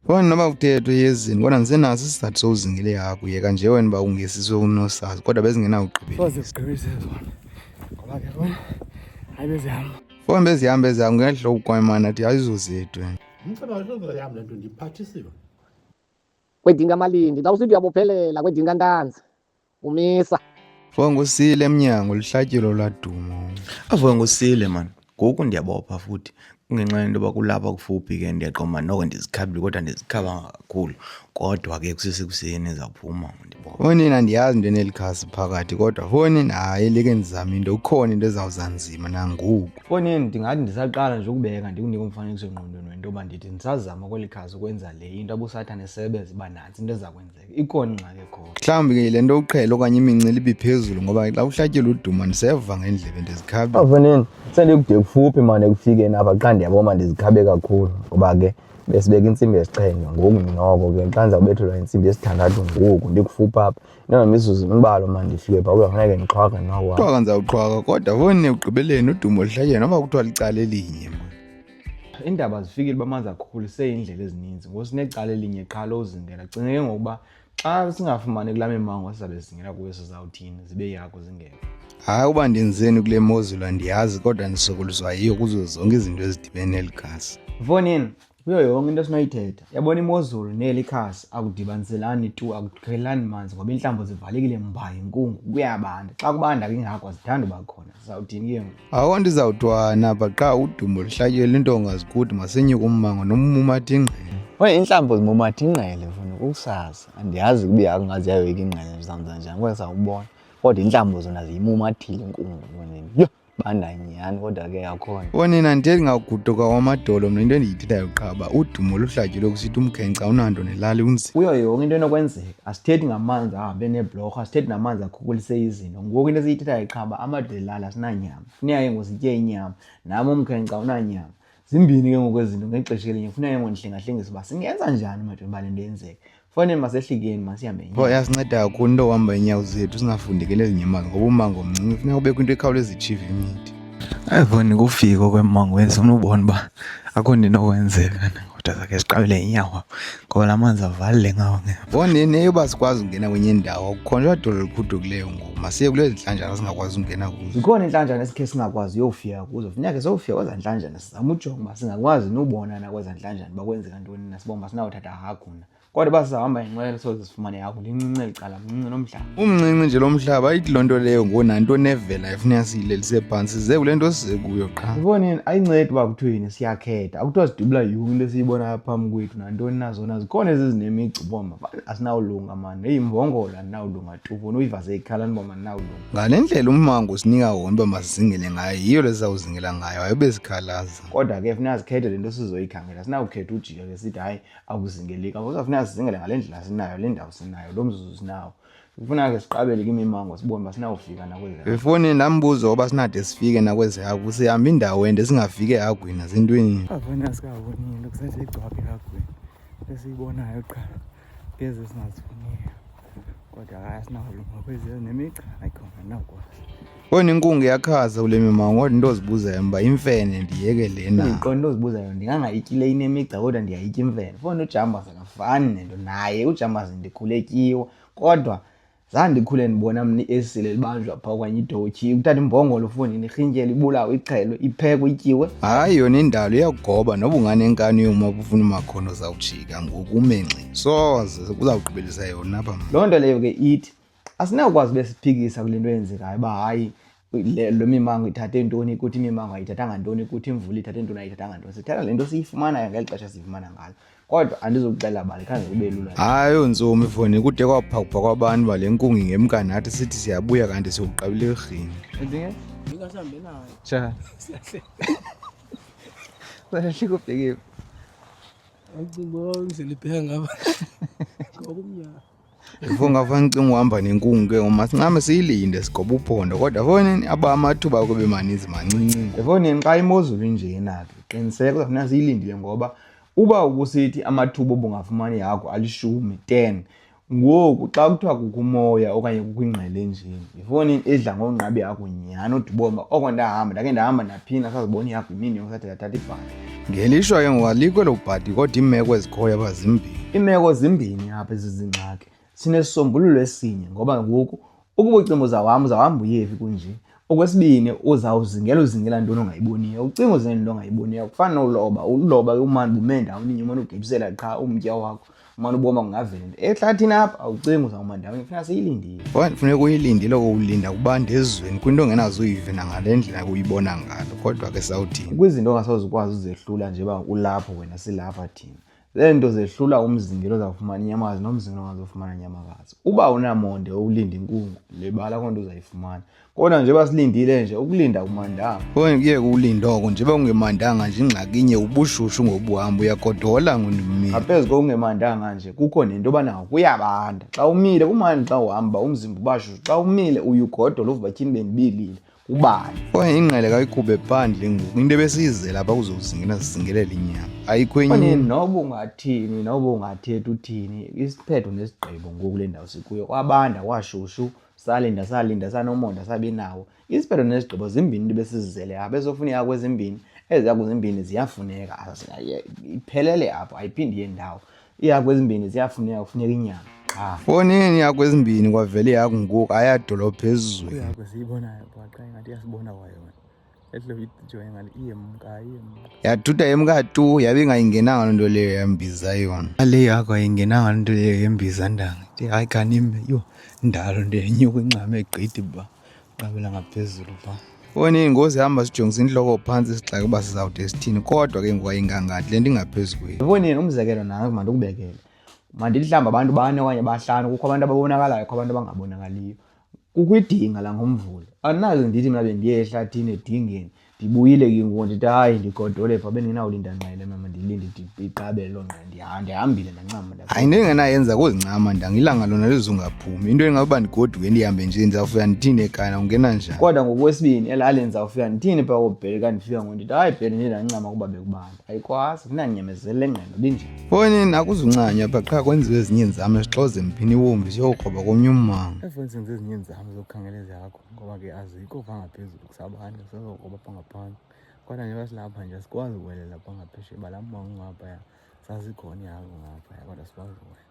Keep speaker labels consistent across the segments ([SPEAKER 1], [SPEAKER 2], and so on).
[SPEAKER 1] Wena noba utetho yezini kodwa ndisenaso isizathu sowuzingile hagu yeka nje wena uba ungesiswe unosazi kodwa bezingenawugqibelezigqibise zona
[SPEAKER 2] ngoba ke bona hayi bezihamba fona bezihamba
[SPEAKER 1] ezihamba ngehlo ukwamana ti ayizozetwe
[SPEAKER 3] kwedinga malindi xa usithi uyabophelela kwedinga ntanzi umisa vuka
[SPEAKER 1] ngusile emnyango lihlatyelo ladumo avuka ngusile
[SPEAKER 4] mani ngoku ndiyabopha futhi kungenxa yento yoba kulapha kufuphi ke ndiyaqoma noko ndizikhabile kodwa ndizikhaba kakhulu kodwa ke kusesekuseni ndizawuphuma ndibona fonini andiyazi into
[SPEAKER 1] enelikhasi phakathi kodwa fonini hayi like ndizama into ukhona into ezawuza nzima nangoku fonini ndingathi
[SPEAKER 2] ndisaqala nje ukubeka ndikunike umfanekiso engqondweni wento yoba ndithi ndisazama kweli khasi ukwenza le into abusathane sebeze uba nantsi into eza kwenzeka ikhona ingxaki ekhona mhlawumbi ke le nto uqhele
[SPEAKER 1] okanye imincili ibiphezulu ngoba xa uhlatyelwa uduma ndiseva ngendlebe ndizikhabe afaneni sendikude
[SPEAKER 5] kufuphi mane ekufikeni apha xa ndiyabo ma ndizikhabe kakhulu ngoba ke besibeka intsimbi yesixhenxe ngoku ndinoko ke xa ndiza kubethelwa intsimbi yesithandathu ngoku ndikufuphi apha inangamizuzu imbalo ma ndifike pha kuyofuneke ndixhwaka noko qhwaka ndizawuqhwaka
[SPEAKER 1] kodwa foni ekugqibeleni udumo lihlatyeni noba kuthiwa licala elinye Iindaba
[SPEAKER 2] zifikile uba manzi akhukulise iindlela ezininzi ngosinecala elinye qha lozingela cinga ke ngokuba xa singafumani kula mimango sizabe zingela kuyo sizawuthini zibe yakho zingela hayi uba
[SPEAKER 1] ndenzeni kule mozulu andiyazi kodwa ndisokoliswa yiyo kuzo zonke izinto ezidibene neli gasi mfonini
[SPEAKER 2] kuyo yonke into esinoyithetha yabona imozulu neli khasi akudibaniselani tu akuthelani manzi ngoba iintlambo zivalekile mba yinkungu kuyabanda xa kubanda kingako zithanda uba khona sizawuthini ke ngoku Awo ndizawutwana
[SPEAKER 1] bha qha udumo luhlatyelwe into ongazikuthi masinyuke ummango nommumatha ingqele. Oye intlamba
[SPEAKER 5] zimumatha ingqele mfana ukusazi. Andiyazi kuba ihagu ngazi yayoyika ingqele ndizawuza njani kodwa sawubona. Kodwa intlamba zona ziyimumathile inkungu mfana. Yho banda nyhani kodwa ke yakhona. Onina ndithi ndingaguduka
[SPEAKER 1] wamadolo mna into endiyithethayo qha uba udumo luhlatyelwe kusithi umkhenkca unanto nelali unzima. Kuyo yonke into enokwenzeka
[SPEAKER 2] asithethi ngamanzi ahambe neebhlorho asithethi namanzi akhukulise izinto ngoku into esiyithethayo qhaba amadlelala asinanyama funeka ke ngositye inyama nam umkhenkca unanyama zimbini ke ngokwezinto ngexesha elinye funeka ke ngondihlengahlengisa uba singenza njani madoda uba le nto yenzeke fanele masehlikeni masihambe nto yasinceda kakhulu
[SPEAKER 1] into ohamba inyawo zethu singafundekeli ezinyamazini ngoba umango mncinci funeka kubekho into ekhawuleza itshiva imithi Ayivoni
[SPEAKER 4] kufika okwemongo wenza ufuna ubona uba akho nto inokwenzeka kodwa zakhe ziqabele inyawo ngoba la manzi avalile ngawo nge vonini eyoba sikwazi
[SPEAKER 1] ukungena kwenye indawo kukhonjwa dolo liphudukileyo ngoku masiye kule zintlanjana singakwazi ukungena kuzo zikhona iintlanjana esikhe
[SPEAKER 2] singakwazi uyofika kuzo funeke sowufika kweza ntlanjana sizama ujonga uba singakwazi nobona na kweza ntlanjana uba kwenzeka ntoni na sibomba sinawuthatha haguna kodwa uba sihamba inqwelo soze sifumane yakho ndincinci eli cala mncinci lo mhlaba umncinci nje lo mhlaba
[SPEAKER 1] ayithi loo nto leyo ngoku nanto nevela ifuna siyilelise phantsi ze kule nto size kuyo qha iboneni ayincedi uba
[SPEAKER 2] kuthiwe yini siyakhetha akuthiwa sidubula yonke into esiyibonayo phambi kwethu nantoni na zona zikhona ezi zinemigci uboma asinawulunga mani eyi mbongola andinawulunga tufuni uyivase ikhala ndiba mandinawulunga ngale ndlela ummango
[SPEAKER 1] sinika wona uba masizingele ngayo yiyo le sizawuzingela ngayo ayobe sikhalaza kodwa ke funa zikhethe
[SPEAKER 2] le nto sizoyikhangela sinawukhetha ujika ke sithi hayi akuzingeleki akusafuneka sizingele ngale ndlela sinayo le ndawo sinayo lo mzuzu sinawo kufuna ke siqabele kimimango sibone uba sinawufika nakwezi befoni ndambuzo
[SPEAKER 1] oba sinade sifike nakwezi hagu sihamba indawo ende singafiki ehagwini azintweni avona sikawonile
[SPEAKER 2] kusasegcwaphe ehagwini esiyibonayo qha ngeze singazifuniyo kodwa akasinawulungakweziyonemica ayikhona nawukwazi Oyi inkungu
[SPEAKER 1] yakhaza kule mimango kodwa into ozibuzayo mba imfene ndiyeke lena. Ndiqonda into ozibuzayo
[SPEAKER 2] ndingangayityi le inemigca kodwa ndiyayitya imfene. Fona ujambazi akafani nento naye ujambazi ndikhule tyiwa kodwa zange ndikhule ndibona mna iesile libanjwa phaa okanye idotyi ukuthatha imbongolo funi nirhintyela ibulawo ixhelwe iphekwe ityiwe hayi yona indalo
[SPEAKER 1] iyakugoba noba unganenkani yoma bufuna umakhono zawujika ngoku umenxi soze uzawugqibelisa yona apha loo nto leyo ke ithi
[SPEAKER 2] asinawukwazi ube siphikisa kule nto yenzekayo uba hayi lo mimango ithathe ntoni kuthi imimango ayithathanga ntoni kuthi imvula ithathe ntoni ayithathanga ntoni sithatha le nto siyifumanayo ngeli xesha siyifumana ngalo kodwa andizokuxela bani khange kube lula hayi ontsomi
[SPEAKER 1] foni kude kwaphakupha kwabantu bale nkungi ngemkani athi sithi siyabuya kanti siwuqabile erhini
[SPEAKER 6] ndingasambi
[SPEAKER 2] nayo ja sahlikubhekephi
[SPEAKER 6] Ifunga fana
[SPEAKER 1] ucinga uhamba nenkungu ke uma sincame siyilinde sigoba uphondo kodwa fonini aba amathuba kube maninzi mancinci. Efonini xa imozulu
[SPEAKER 2] injena ke qiniseka kuzafuneka siyilindile ngoba uba ubusithi amathuba obungafumani yakho alishumi 10 ngoku xa kuthiwa kukho umoya okanye kukho ingqele njeni yifoni edla ngongqabi yakho nyhani udibomba oko ndahamba ndake ndahamba ndaphinda sazibona yakho imini yonke sathi ndathatha ibhadi ngelishwa ke ngoku
[SPEAKER 1] alikho elo bhadi kodwa iimeko ezikhoyo apha zimbini iimeko zimbini
[SPEAKER 2] apha ezizingxaki sinesisombululo esinye ngoba ngoku Ukuba ucinga uza wam uza wam uyevi kunje. Okwesibini uzawuzingela uzingela ntoni ongayiboniyo. Ucinga uzingela into ongayiboniyo kufana nowuloba. Uloba umane uba ume ndawonye umane ugibisela qha umtya wakho umane uboma kungavela into ehlathini apha awucingi uzawuma ndawonye funeka siyilindile. Okanti funeka uyilindile
[SPEAKER 1] kowulinda kubanda ezweni kwinto ongenaze uyive nangale ndlela uyibona ngalo kodwa ke sawuthini. Kwizinto ongasoze ukwazi
[SPEAKER 2] uzehlula nje uba ulapho wena silapha thina. Lee nto zehlula umzingelo zawufumana inyamakazi nomzingelo ongazofumana inyamakazi. Uba unamonde owulinda inkungu, lebala koo nto uzayifumana. Kodwa nje basilindile nje ukulinda kumandanga. Konye kuye kuwulinda
[SPEAKER 1] oko nje ungemandanga nje ingxaki inye ubushushu ngobuhamba uyagodola ngundimile. Ngaphezu kokungemandanga
[SPEAKER 2] nje kukho nento yoba nawo kuyabanda. Xa umile kumandi xa uhamba umzimba ubashushu. Xa umile uye ugodola uvuba tyhini bendibilile. ubani kwaye ingqele kayikhube
[SPEAKER 1] phandle ngoku into ebesiyizela apha kuzozingela zizingelela inyama ayikho enye Mane, noba ungathini
[SPEAKER 2] noba ungathethi uthini isiphetho nesigqibo ngoku le ndawo sikuyo kwabanda kwashushu salinda salinda sanomonda sabi nawo isiphetho nesigqibo zimbini into besizizele apha ezofuneka kwezimbini eziya kwezimbini ziyafuneka Azi- ayi- iphelele apho ayiphindi yendawo iihagu ezimbini ziyafuneka kufuneka inyama qha Fonini
[SPEAKER 1] ihagu ezimbini kwavela ihagu ngoku ayadolo phezulu. ihagu esiyibonayo
[SPEAKER 4] bhaqa ingathi iyasibona kwayona ehle uyijo engathi iyemka iyemka Yaduda
[SPEAKER 1] yemka tu yabe ingayingenanga loo nto leyo yambiza yona. Ale ihagu ayingenanga loo nto leyo yembiza ndanga. Ithi hayi kanime yho ndalo nto yenyuka incame gqithi ba. qabela ngaphezulu pha foni iyingozi hamba sijongisa intloko phantsi sixake uba sizawude sithini kodwa ke ngokwayingangathi le nto ingaphezu kweli yiboni yena umzekelo nayo
[SPEAKER 2] mandikubekele mandilihlamba abantu bane okanye bahlanu kukho abantu ababonakalayo kukho abantu abangabonakaliyo kukwidinga langomvula andinazi ndithi mna bendiye ehlathini edingeni ndibuyile ke ngoku ndithi hayi ndigodole pha bendinawulinda nqele mama ndilinde iqabele loo nqele ndihambile ndancama hayi into endingenayenza
[SPEAKER 1] kuzincama ndangilanga lona lizungaphumi into endingakuba ndigoduke ndihambe nje ndizawufika ndithini ekana ungena njani kodwa ngokwesibini
[SPEAKER 2] elali ndizawufika ndithini pha kobhele ka ndifika ngo ndithi hayi bhele ndiye ndancama kuba bekubanda ayikwazi kunanyamezele ngqelo binjani fonini akuzuncanywa
[SPEAKER 1] pha qha kwenziwe ezinye nzame sixoze mphini wombi siyokroba komnye ummango efonini senze ezinye nzame
[SPEAKER 4] zokukhangela ezakho ngoba ke azikho pha ngaphezulu sabanye sizokuba pangaphandle kodwa njengoba silapha nje sikwazi ukuwelela pangaphesheya bala mmango ngaphaya sazikhona ihagu ngaphaya kodwa sikwazi ukuwelela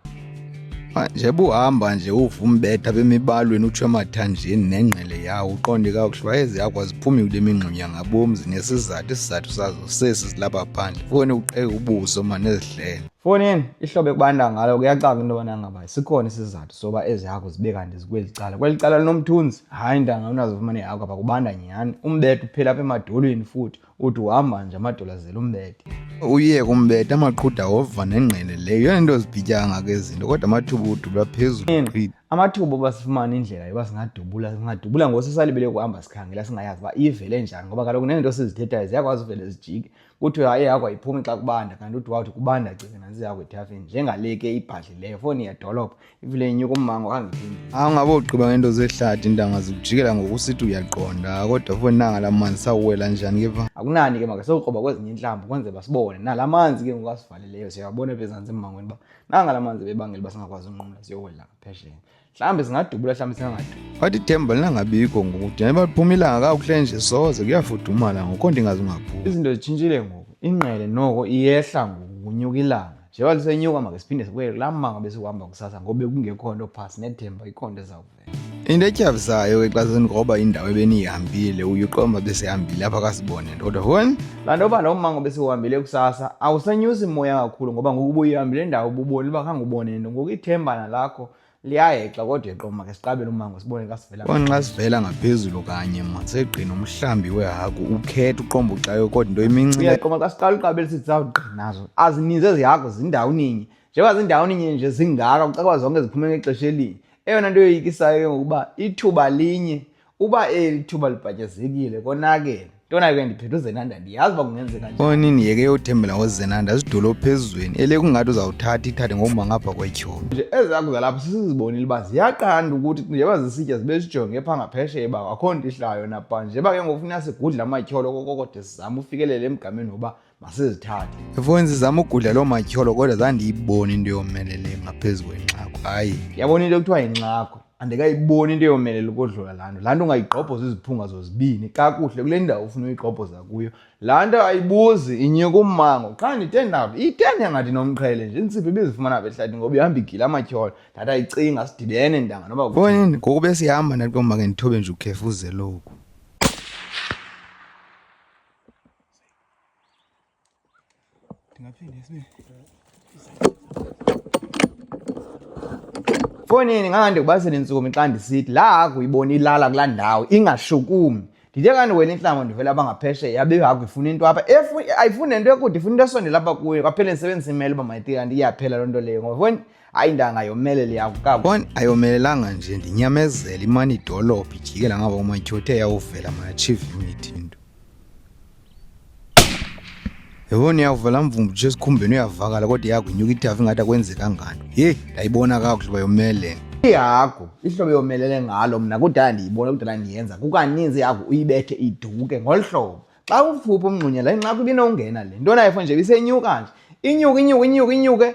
[SPEAKER 4] nje buhamba
[SPEAKER 1] nje uva umbetha bemibalweni utsho emathanjeni nengqele yawo uqonde kakuhle wayeze yakho aziphumi kule mingxunya ngabomzi nesizathu isizathu sazo sesi silapha phandle fone uqeke ubuso mane ezihlele fonini ihlobo
[SPEAKER 2] ekubanda ngalo kuyacaka into yobana ngaba sikhona isizathu soba ezi hagu zibe kanti zikweli cala kweli cala linomthunzi hayi ntanga unazofumaneka akho apha kubanda nyhani umbethe uphela apha emadolweni futhi uthi uhamba nje amadolo azela umbethe uye kumbethe
[SPEAKER 1] amaqhuda wova nengqele leyo yona into zibhityanga ngako ezinto kodwa amathuba udubula phezulu amathuba oba
[SPEAKER 2] sifumane indlela yoba singadubula singadubula ngosisalibele kuhamba sikhangela singayazi uba ivele njani ngoba kaloku neento sizithethayo ziyakwazi uvele zijike kuthiwe hayi yakho ayiphumi xa kubanda kanti uthi wawuthi kubanda cinga nantsi yakho ethafeni njengale ke ibhadlileyo foni yedolophu ivile inyuka ummango angiphindi awungabe ugqiba ngento
[SPEAKER 1] zehlathi intanga zikujikela ngokusithi uyaqonda kodwa foni nanga la manzi sawuwela njani ke pha akunani ke maka sewukroba
[SPEAKER 2] kwezinye intlamba kwenze basibone nala manzi ke ngoku asivaleleyo siyawabona bezantsi emmangweni uba nanga la manzi bebangela uba singakwazi unqumla siyowela ngaphesheya mhlawumbi zingadubula mhlawumbi zingangadubula wathi ithemba
[SPEAKER 1] lingangabikho ngoku thina baphuma ilanga kakuhle nje soze kuyafudumala ngoko ndingazi ungaphuma izinto zitshintshile ngoku
[SPEAKER 2] ingqele noko iyehla ngoku kunyuka ilanga njengoba lisenyuka makesiphinde sibuye kulaa manga besikuhamba kusasa ngoba bekungekho nto phasi nethemba ikho nto ezawuvela into etyhavisayo
[SPEAKER 1] ke xa senigroba indawo ebeniyihambile uyuqomba besihambile apha kasibone nto kodwa hon laa nto yoba loo mmango
[SPEAKER 2] besiwuhambile kusasa awusenyusi moya kakhulu ngoba ngoku buyihambile indawo ububoni uba khange ubone nto ngoku ithemba nalakho liyahexa kodwa iqoma ke siqabele umango sibone xa sivela konxa sivela ngaphezulu
[SPEAKER 1] kanye ma segqina umhlambi wehagu ukhetha uqomba ucayo kodwa into iminciqoma xa siqala uqabele
[SPEAKER 2] sithi zawugqinazo azininzi ezi hagu zindawo ninye njengoba zindawo ninye nje zingaka kucakwa zonke ziphume ngexesha elinye eyona nto yoyikisayo ke ngokuba ithuba linye uba eli thuba libhatyazekile konakele ntona ke ndiphethe uzenanda ndiyazi uba kungenzeka nje onini yeke yothembela
[SPEAKER 1] ngozenanda zidolo phezulweni ele kungathi uzawuthatha ithathe ngokuba ngapha kwetyholo nje ezaku zalapho
[SPEAKER 2] sisizibonile uba ziyaqanda ukuthi njeba zisitya zibe zijonge pha ngaphesheya uba akho nto ihlayo napa njeba ke ngokufuna sigudle amatyholo kokokode sizama ufikelele emgameni woba masizithathe efoni sizama
[SPEAKER 1] ugudla loo matyholo kodwa zandiyiboni into yomelele ngaphezu kwenxako hayi yabona into ekuthiwa
[SPEAKER 2] yinxako andikayiboni into yomelele ukodlula laa nto laa nto ungayigqobhoza iziphunga zozibini kakuhle kule ndawo ufuna uyigqobhoza kuyo laa nto ayibuzi inyuka ummango qha nditendaphi itende ngathi nomqhele nje intsiphi ibizifumana apha ehlathi ngoba ihamba igila amatyholo ndathi ayicinga sidibene ntanga noba konini ngoku besihamba
[SPEAKER 1] ndathi komake ndithobe nje ukhefuzeloku
[SPEAKER 2] Fonini ngangande kubasele intsukumi xa ndisithi laa hagu uyibona ilala kulaa ndawo ingashukumi ndithe kanti wena intlango ndivela bangaphesheya yabe ihagu ifuna into apha ayifuni nento ekude ifuna into esondela apha kuyo kwaphela ndisebenzisa imele uba mayitika kanti iyaphela loo nto leyo ngoba hayi ntanga yomelele yakukabo bon ayomelelanga
[SPEAKER 1] nje ndinyamezela imane idolophu ijikela ngaba umatyhothe yawuvela mayachieve imithi into yebona iyavela mvumbu nje esikhumbeni uyavakala kodwa iyakunyuka ithafu ingathi akwenzeka ngani yeyi ndayibona kakuhle uba yomelele ihagu
[SPEAKER 2] ihlobo yomelele ngalo mna kudala ndiyibona kudala ndiyenza kukaninzi ihagu uyibethe iduke ngolu hlobo xa uphupha umngxunyela inxaku ibinowungena le nto nayo fo nje ibisenyuka nje inyuke inyuke inyuke inyuke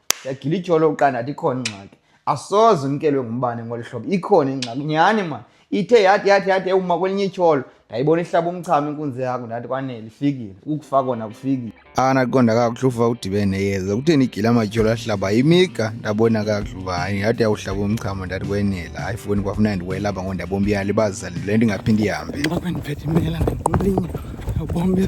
[SPEAKER 2] ndiyagila ityholo uqandathi ikhona ingxaki asoze umkelwe ngumbane ngolu hlobo ikhona ingxaki nyhani mani ithe yathi yathi yathi ewuma kwelinye ityholo ndayibona ihlaba umchamo inkunzi yakho ndathi kwanele ifikile ukufa kona kufikile anaqonda kakuhle
[SPEAKER 1] ufa udibene neyeza kutheni igile amatyholo ahlaba imiga ndabona kakuhle uba hayi yathi yawuhlaba umchamo ndathi kwenela hayi foni kwafuna ndiwelapha ngo ndabombi yalibazisa le nto ingaphinde ihambe ndiphethe imela
[SPEAKER 4] ndinqulinye abombi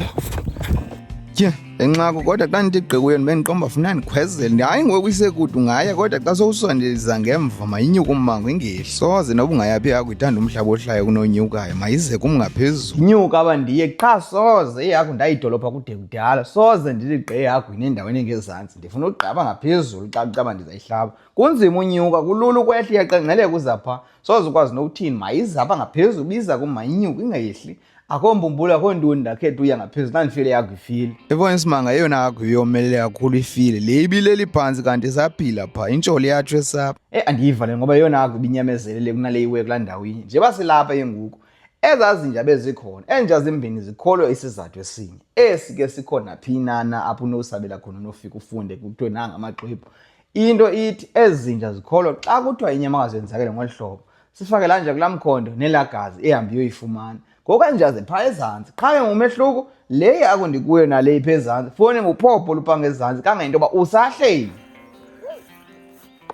[SPEAKER 4] tye
[SPEAKER 1] le nxako kodwa xa ndithi gqi kuyo ndibe ndiqomba funa ndikhwezele ndi hayi ngoku isekude ungaya kodwa xa sowusondeza ngemva mayinyuke ummango ingehli soze noba ungayaphi yakho ithanda umhlaba ohlayo kunonyukayo mayize kum ngaphezulu nyuka aba ndiye
[SPEAKER 2] qha soze ihagu ndayidolopha kude kudala soze ndithi gqi ihagu inendaweni engezantsi ndifuna ugqaba ngaphezulu xa kucaba ndizayihlaba kunzima unyuka kulula ukwehla iyaqengqeleka uzapha soze ukwazi nokuthini mayizapha ngaphezulu biza kum mayinyuke ingehli akho mbumbulu akho ntoni ndakhetha uya ngaphezulu ndandifile yakho ifile ebona isimanga eyona
[SPEAKER 1] yakho iyomelele kakhulu ifile le ibileli phantsi kanti isaphila pha intsholi yatsho esapha e andiyiva le ngoba yeyona
[SPEAKER 2] yakho ibinyamezelele kunale iwe kulaa ndawo inye nje basilapha yenguku ezazinja bezikhona enja zimbini zikholwe isizathu esinye esi ke sikhona phi nana apho unosabela khona unofika ufunde kuthiwe nanga amaxwebhu into ithi ezi zinja zikholwa xa kuthiwa inyamakazi yenzakele ngolu hlobo sifake la nja kulaa mkhondo nelaa gazi ehambe iyoyifumana ngoku ezinja ziphaa ezantsi qha ke ngumehluko le akundikuyo nale ipha ezantsi foni nguphopho olupanga ezantsi kangento yoba usahleli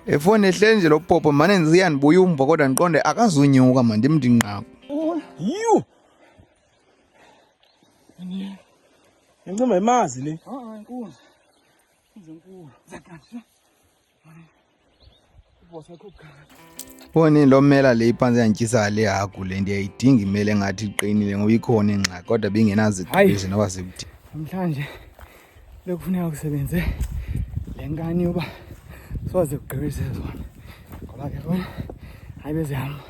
[SPEAKER 1] efoni ehleli nje lo popo mane ndiziya ndibuya umva kodwa ndiqonde akazunyuka mandimndinqako yhu
[SPEAKER 6] incima yimazi le
[SPEAKER 4] Boni
[SPEAKER 1] lo mela le iphantsi yandityisayo le hagu le ndiyayidinga imele ngathi iqinile ngoba ikhona ingxaki kodwa bingenaziqezi noba zikuthi namhlanje
[SPEAKER 4] bekufuneka kusebenze le nkani yoba soze kugqibise zona ngoba ke bona hayi bezihamba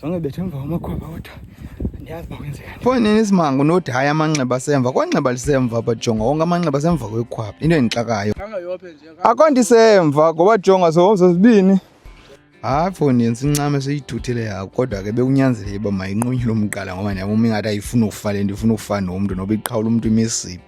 [SPEAKER 4] zonke bethe emva kwamakhwaba kodwa ndiyazi uba kwenzekani fo nini isimanga unothi
[SPEAKER 1] hayi amanxeba asemva kwanxeba lisemva bajonga wonke amanxeba asemva kwekhwaba into endixakayo akho
[SPEAKER 6] ndisemva
[SPEAKER 1] ngoba jonga sohomzo zibini hayi fo ndenza incame seyithuthile yako kodwa ke bekunyanzeleke uba mayinqunyule umqala ngoba ndiyabona ingathi ayifuni ukufa le nto ifuna ukufa nomntu noba iqhawula umntu imisiphi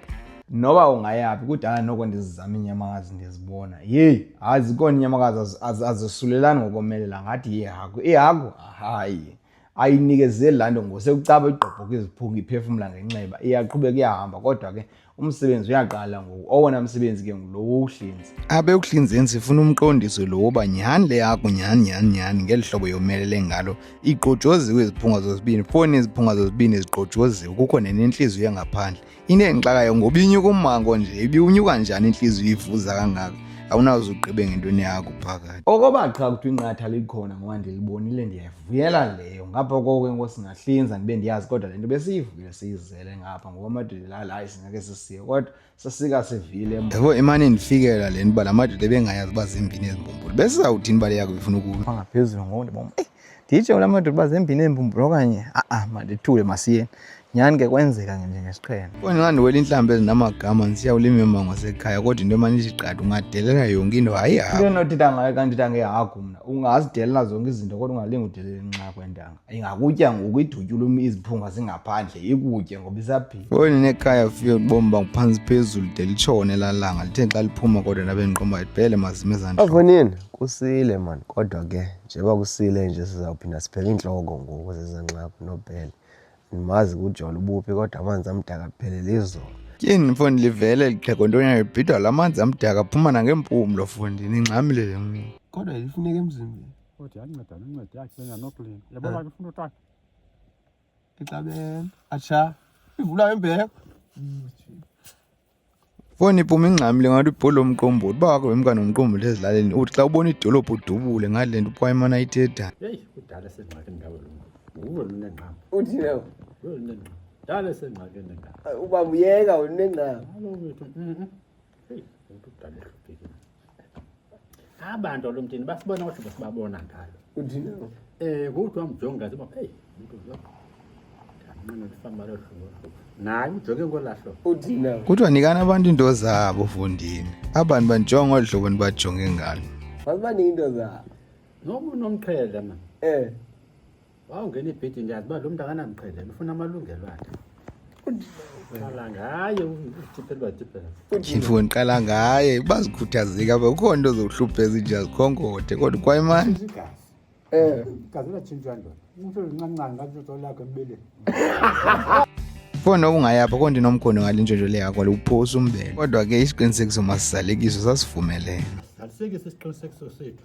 [SPEAKER 1] noba
[SPEAKER 2] ungayaphi kudala noko ndizizama iinyamakazi ndizibona yeyi hayi zikhona iinyamakazi azisulelani ngokomelela ngathi yehagu ihagu hayi ayinikezeli laa nto ngosekucaba igqobhoka iziphuka iphefumla ngenxeba iyaqhubeka iyahamba kodwa ke umsebenzi uyaqala ngoku owona msebenzi ke ngulo wokuhlinza abe ekuhlinzeni
[SPEAKER 1] sifuna umqondiso lo woba nyhani le yakho nyhani nyhani nyhani ngeli hlobo yomelele ngalo igqojoziwe iziphunga zozibini foni iziphunga zozibini zigqojoziwe kukho nenentliziyo engaphandle into endixakayo ngoba inyuka ummango nje ibiwunyuka njani intliziyo ivuza kangaka awunawuze ugqibe ngentweni yakho phakathi okoba qha kuthiwa
[SPEAKER 2] inqatha likhona ngoba ndilibonile ndiyayivuyela leyo ngapha koko ke ngoku singahlinza ndibe ndiyazi kodwa le nto besiyivuyile siyizele ngapha ngoba amadodela ala hayi singake sisiye kodwa sasika sivile yabo imane
[SPEAKER 1] ndifikela le nto uba la madoda ebengayazi uba zimbini ezimbumbulu besizawuthini bale yakho befuna ukuma ngaphezulu ngoku ndiboma eyi
[SPEAKER 2] nditsho kula madoda uba zimbini eembumbulo okanye a-a mandithule masiyeni nyhani ke kwenzeka njengesixhene kwenxa ndiwela iintlamba
[SPEAKER 1] ezinamagama ndisiya ulima imango sekhaya kodwa into emane ithi qadi ungadelela yonke into hayi hayi into endinothetha ngayo xa
[SPEAKER 2] ndithetha ngehagu mna ungazidelela zonke izinto kodwa ungalinga udelela inxa kwentanga ingakutya ngoku idutyula um iziphunga zingaphandle ikutye ngoba isaphila kweni nekhaya fike
[SPEAKER 1] ubomi banguphantsi phezulu de litshone lalanga lithe xa liphuma kodwa ndabe ndiqomba ibhele mazime zandixonini kusile
[SPEAKER 5] mani kodwa ke Njengoba kusile nje sizawuphinda siphele iintloko ngoku zezanxaphu nobhele. Ndimazi kujolo ubuphi kodwa amanzi amdaka aphelele izolo. Tyhini mfundi
[SPEAKER 1] livele lixhego ntonya ibhidwa la manzi amdaka phuma nangeempumlo fundi ningxamile le nqi. Kodwa lifuneka
[SPEAKER 5] emzimbeni. Kodwa yanceda
[SPEAKER 7] nonceda yakhe lena noklin. Yabona ke ufuna utata. Ixabene.
[SPEAKER 5] Atsha. Ivula imbeko.
[SPEAKER 1] Foni iphuma ingxamile ngathi ubholo umqombothi uba wakho wemkani umqombothi ezilaleni uthi xa ubona idolophu udubule ngale nto uphwa imana ithetha yeyi kudala
[SPEAKER 7] sengxakini ngawe lo nguwe lunengqama uthina nguwe
[SPEAKER 5] lunengqama
[SPEAKER 7] dala sengxakini ngawe uba muyeka
[SPEAKER 5] unengqama alo wethu mhm.
[SPEAKER 7] heyi umntu udala ehluphekile abantu lo mtini basibona ukuthi basibabona ngalo uthini
[SPEAKER 5] eh kuthi
[SPEAKER 7] wamjonga ziba hey umuntu lo nqina lifamba lo hlobo naye ujoke ngolahlo uthini kuthiwa
[SPEAKER 5] nikani abantu
[SPEAKER 1] into zabo fundini abantu banjonga olu hlobo nibajonge ngalo baziba ninto
[SPEAKER 5] zabo noba unomqhele
[SPEAKER 7] mani eh wawungena ibhedi ndiyazi uba lo mntu akanamqhelelo ufuna amalungelo akhe qala ngaye utiphelwa tiphelwa mfo ndiqala
[SPEAKER 1] ngaye bazikhuthazeka apha kukho nto zokuhlupha ezinja zikhonkothe kodwa kwayimani igazi um
[SPEAKER 7] igazi latshintshwa ndoda umntu olincancane latshintshwa olakho
[SPEAKER 1] embeleni fona okungayapha konke nomkhondo ngale ntshontsho le yakho liwuphosa umbele kodwa ke isiqinisekiso masizalekiso sasivumelene asisekise
[SPEAKER 7] isiqinisekiso sethu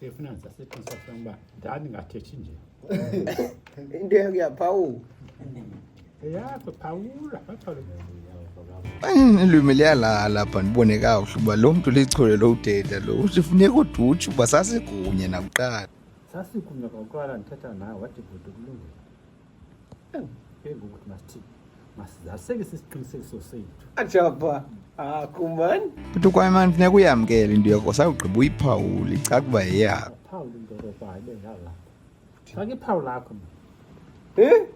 [SPEAKER 7] Sifuna nsa sithi nsa ngba. Dani ngathethi nje.
[SPEAKER 5] Into yakhe yaphawu.
[SPEAKER 7] Eyakho phawula bathole mm,
[SPEAKER 1] ilwimi liyalala lapha ndibone kakuhle uba lo mntu lichole lo udeda lo uthi funeka udutshe uba sasikunye nakuqala sasikunye
[SPEAKER 7] kwakuqala ndithetha nawe wathi bhuti kulungile Ajaba.
[SPEAKER 5] Ah, kuman. Futhi kwayimani
[SPEAKER 1] funeka uyamkele into yakho sakugqiba uyiphawule icaka uba yeyakho. Phawula into yakho
[SPEAKER 7] hayibe ngala. Faka iphawu lakho. Eh?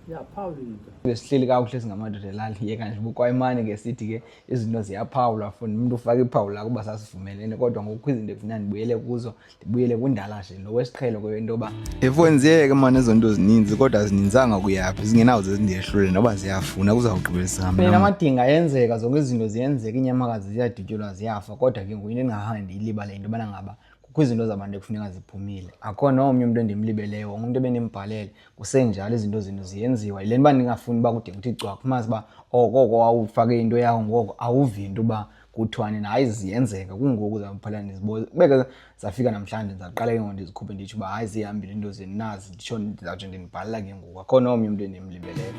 [SPEAKER 7] Ya phawula into. Besihleli kakuhle
[SPEAKER 2] singamadoda elali yeka nje bukwayimani ke sithi ke izinto ziyaphawula funa umuntu ufaka iphawu lakho uba sasivumelene kodwa ngoku izinto efuna ndibuyele kuzo ndibuyele kundala nje lo wesiqhelo kweyo into yoba efonsiyeke ke mani
[SPEAKER 1] ezo nto zininzi kodwa zininzanga kuyaphi zingenawuze zindehlule noba ziyafuna kuzawugqibisam phela amadinga
[SPEAKER 2] ayenzeka zonke izinto ziyenzeka iinyamakazi ziyadutyulwa ziyafa kodwa ke ngoku into endingahange ndiyilibale yinto yobana ngaba kukho izinto zabantu ekufuneka ziphumile akho nomnye umntu endimlibeleyo wonke umntu ebendimbhalele kusenjalo izinto zenu ziyenziwa yile nto uba ndingafuni uba kude kuthi cwakho umazi uba okoko oh, wawufake into yawo ngoko awuvi into uba kuthiwa nina hayi ziyenzeka kungoku zaphela ndiziboze kubeke zafika namhlanje ndizaqala ke ngoku ndizikhuphe nditsho uba hayi zihambile into zeni nazi nditsho ndizawutsho ndinibhalela ke ngoku akhona omnye umntu endimlibeleyo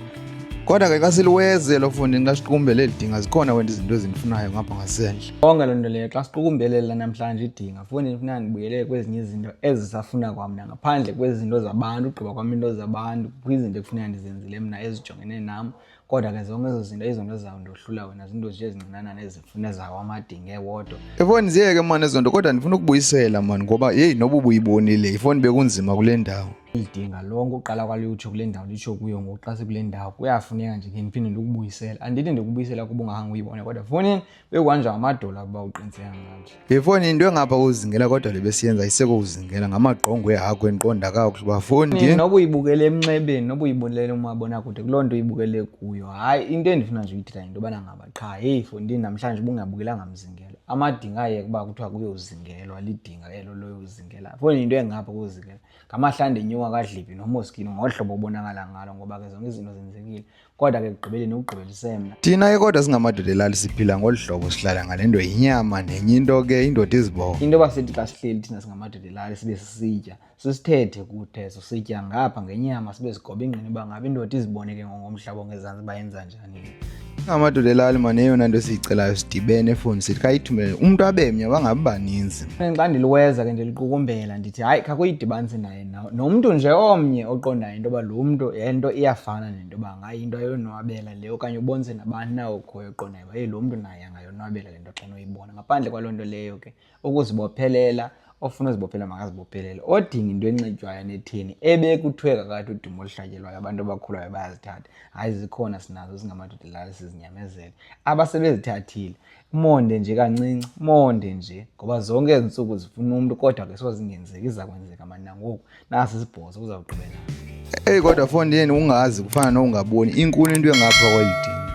[SPEAKER 2] kodwa ke xa
[SPEAKER 1] siliweze lo fundi xa siqukumbele elidinga zikhona wena izinto ezindifunayo ngapha ngasendle konke loo nto leyo xa
[SPEAKER 2] siqukumbelela namhlanje idinga fundi ndifuna ndibuyele kwezinye izinto ezisafuna kwam na ngaphandle kwezinto zabantu ugqiba kwam into zabantu kwizinto ekufuneka ndizenzile mna ezijongene nam kodwa ke zonke ezo zinto izinto ezizawundohlula wena zinto nje ezincinanana ezifuna ezawo amadinge wodwa efoni ziyeke mani
[SPEAKER 1] ezo nto kodwa ndifuna ukubuyisela mani ngoba yeyi noba ubuyibonile ifoni bekunzima kule ndawo ilidinga lonke
[SPEAKER 2] uqala kwalutsho kule ndawo litsho kuyo ngoku xa sekule ndawo kuyafuneka nje ke ndiphinde ndikubuyisela andithi ndikubuyisela kuba ungahanga uyibone kodwa fowunini bekwanje amadola kuba uqiniseka nganje yefoni into engapha
[SPEAKER 1] kuzingela kodwa le besiyenza iseko uzingela ngamagqongo ehakho endiqonda kakuhle uba foni noba uyibukele
[SPEAKER 2] emnxebeni noba uyibulele umabonakude kuloo nto uyibukele kuyo hayi into endifuna nje uyithetha yinto yobana ngaba qha heyi fondini namhlanje ubungabukelanga mzingelo amadinga ayeke uba kuthiwa kuyozingelwa lidinga elo loyozingela foni yinto engapha kuzingela ngamahlande enyuka kadlibi nomoskini ngohlobo obonakala ngalo ngoba ke zonke izinto zenzekile kodwa ke ekugqibeleni ukugqibela isemna thina ke kodwa singamadoda
[SPEAKER 1] elali siphila ngolu hlobo sihlala ngale nto yinyama nenye into ke indoda izibongo into yoba sithi xa sihleli
[SPEAKER 2] thina singamadoda elali sibe sisitya sisithethe kuthezo sitya ngapha ngenyama sibe sigoba ingqini uba ngaba indoda izibone ke ngongomhlaba ongezantsi uba yenza njani amadoda
[SPEAKER 1] elali mane eyona nto esiyicelayo sidibene efoni sithi khayithumele umntu abemnye bangabi baninzi xa ndiliweza
[SPEAKER 2] ke ndiliqukumbela ndithi hayi khakuyidibanise naye nomntu nje omnye oqondayo into yoba lo mntu le nto iyafana nento yoba ngayo into ayonwabela le okanye ubonise nabani na okhoyo oqondayo uba lo mntu naye angayonwabela le nto xa noyibona ngaphandle kwaloo nto leyo ke ukuzibophelela ofuna uzibophelela makazibophelele odinga into enxitywayo netheni ebekuthiwe kakathi udumo oluhlatyelwayo abantu abakhulayo bayazithatha hayi zikhona sinazo zingamadoda lala sizinyamezele abasebezithathile umonde nje kancinci umonde nje ngoba zonke ezi ntsuku zifuna umntu kodwa ke sozingenzeki iza kwenzeka mani nangoku nasi sibhozo kuzawuqhubeka
[SPEAKER 1] eyi
[SPEAKER 2] kodwa
[SPEAKER 1] fondeni ungazi kufana nokungaboni inkulu
[SPEAKER 2] into
[SPEAKER 1] engapha kwayidini